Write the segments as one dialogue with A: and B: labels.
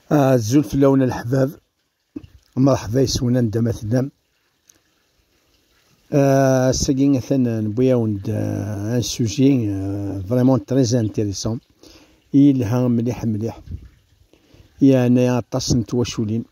A: Azul fell-awen a leḥbab, mṛeḥba yes-wen anda ma tellam. Ass-agi atan newwi-awen-d un sujet vraiment très intéressant, yelha mliḥ mliḥ, yeɛna aṭas n twaculin.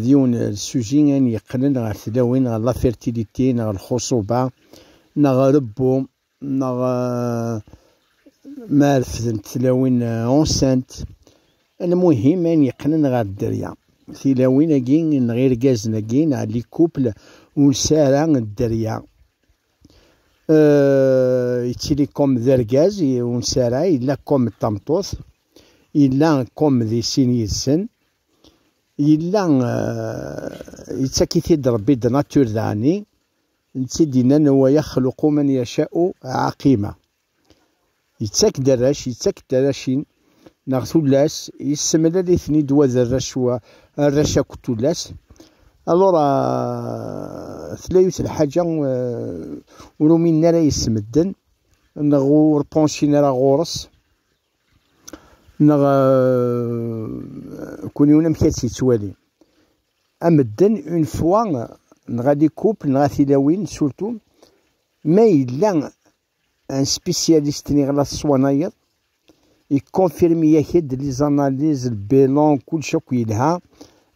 A: D yiwen n sujet ayen yeqqnen ɣer tlawin, ɣer la fertilité, neɣ lxuṣuba, neɣ rebbu. neɣ ma refdent tilawin ɛussant, lmuhim ayen yeqqnen ɣer dderya. Tilawin-agi neɣ irgazen-agi neɣ les couples ur nesɛi ara dderya. Yettili comme d argaz ur nesɛi ara, yella comme d tameṭṭut, yella comme di sin yid-sen, yella yettak-it-id Rebbi de nature daɛni, Netta i d-yennan wa yaxluqu man yaca'u ɛaqima, yettak-d arrac, yettak-d tarracin neɣ tullas, yessemlal-iten-id wa d arrac wa, arrac akked tullas. Alura tella yiwet n lḥaǧa ur uminen ara yesmedden neɣ ur pensin ara ɣur-s neɣ kul yiwen amek ad tt-yettwali. A medden, une fois, neɣ les couples, neɣ a tilawin, surtout, ma yella un spécialiste niɣ la teṣwanayeḍ, iconfirme-yak-d les analyses, le bilan, kullec akk yelha,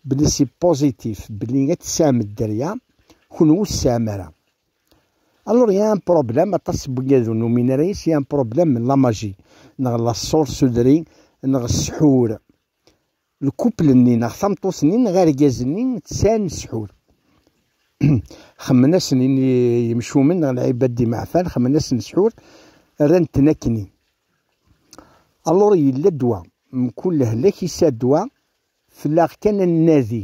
A: belli c'est positif, belli ad tessahmed dderya, kenwi ur tessaham ara. Alors il y a un problème, aṭas n wigad ur numin ara yes, il y a un problème la magie, neɣ la sorcellerie, neɣ ssḥur. lkupel-nni neɣ tameṭṭut-nni neɣ argaz-nni tesɛan ssḥur. Xemmen-asen yimcumen neɣ lɛibad d imeɛfan, xemmen-asen ssḥur, rran-ten akkenni. Alluṛ yella ddwa, mkul lehlak yesɛa ddwa, fell-aɣ kan ad nnadi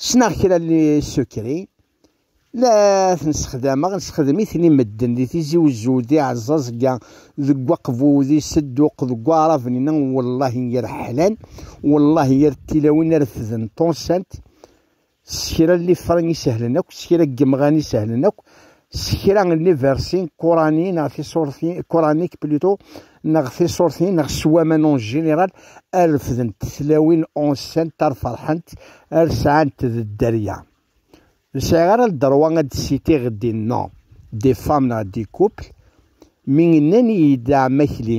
A: Ssneɣ kra n yisukrin, la ten-ssexdameɣ, ssexdem-iten i medden di Tizi Uzzu, di Ɛeẓẓaẓegga, deg Waqbu, di Sedduq, deg Waɛraben-inna, wellahi yir ḥlan, wellahi yir tilawin refden ṭṭunsant, s kra n lifra isehlen akk, s kra n yemɣan isehlen akk, s kra n liversin kurani neɣ tisurtin kuranik plutôt neɣ tisurtin neɣ s waman en général ad refdent tlawin unsent ar ferḥent ar sɛant d dderya ur sɛiɣ ara ddrewa ad d-sitiɣ des noms des femmes neɣ des couples mi nnan-iyi-d d amakli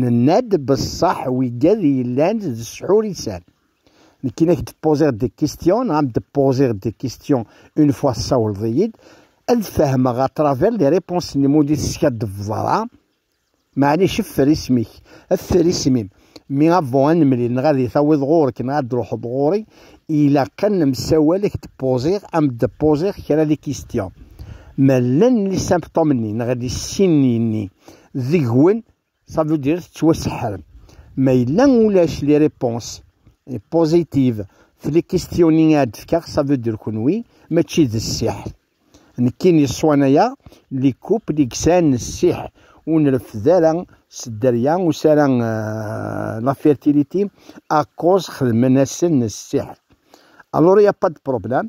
A: Nenna-d beṣṣaḥ wigad yellan d sḥurisan. Nekk i ak-d poser des questions, neɣ am d poser des questions une fois tessawleḍ-iyi-d, ad fehmeɣ à travers les réponses-nnem ur d-i-teskaddbeḍ ara. Meɛlic effer isem-ik, effer isem-im, mi avant ad nemlil neɣ ad i-tawiḍ ɣur-k neɣ ad d-truḥeḍ ɣur-i, ilaq ad nemsawal ak-d poser, am d poser kra des questions. Ma llan li symptômes-nni neɣ li signes-nni deg-wen, ça veut dire tettwaseḥrem. Ma yella ulac les réponses positives في les questioning ad fkeɣ, ça veut dire kunwi mačči d ssiḥr. Nekkini ṣṣwana-ya li kup li yesɛan ssiḥr ur nreffed ara s dderya ur s ara la fertilité à cause xedmen-asen ssiḥr. Alors il n'y a pas de problème.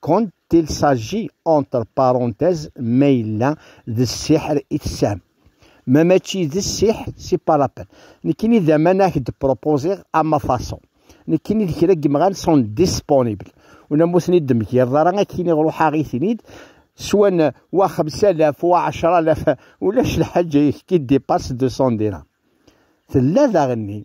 A: quand il s'agit entre parenthèses ma yella d ssiḥr i tesɛam ma mačči d ssiḥr si pas la peine nekkini d aman ak d proposer à ma façon nekkini d kra n yimɣan sont disponibles ula ma ur ten-id-temgireḍ ara akkin ruḥ-aɣ-iten-id swan wa xemsalaf wa ɛecralaf ulac lḥaǧa yekki dépasse 200 dirham tella daɣenni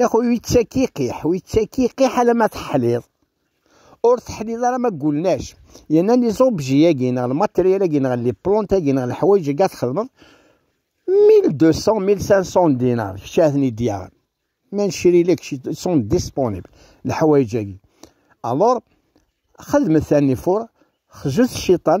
A: Yaxu yettakiqiḥ, u yettakiqiḥ alamma teḥliḍ. Ur teḥliḍ ara ma gulnac. Yenna li zobji-agi neɣ lmatriyal-agi neɣ li plont-agi neɣ leḥwayeǧ-agi txedmeḍ 1200-1500 dinar, kečč ad ten-id-yaɣ. Ma necri-lek, sont disponibles, leḥwayeǧ-agi. Alors, xedmet anifur, xzut ciṭan,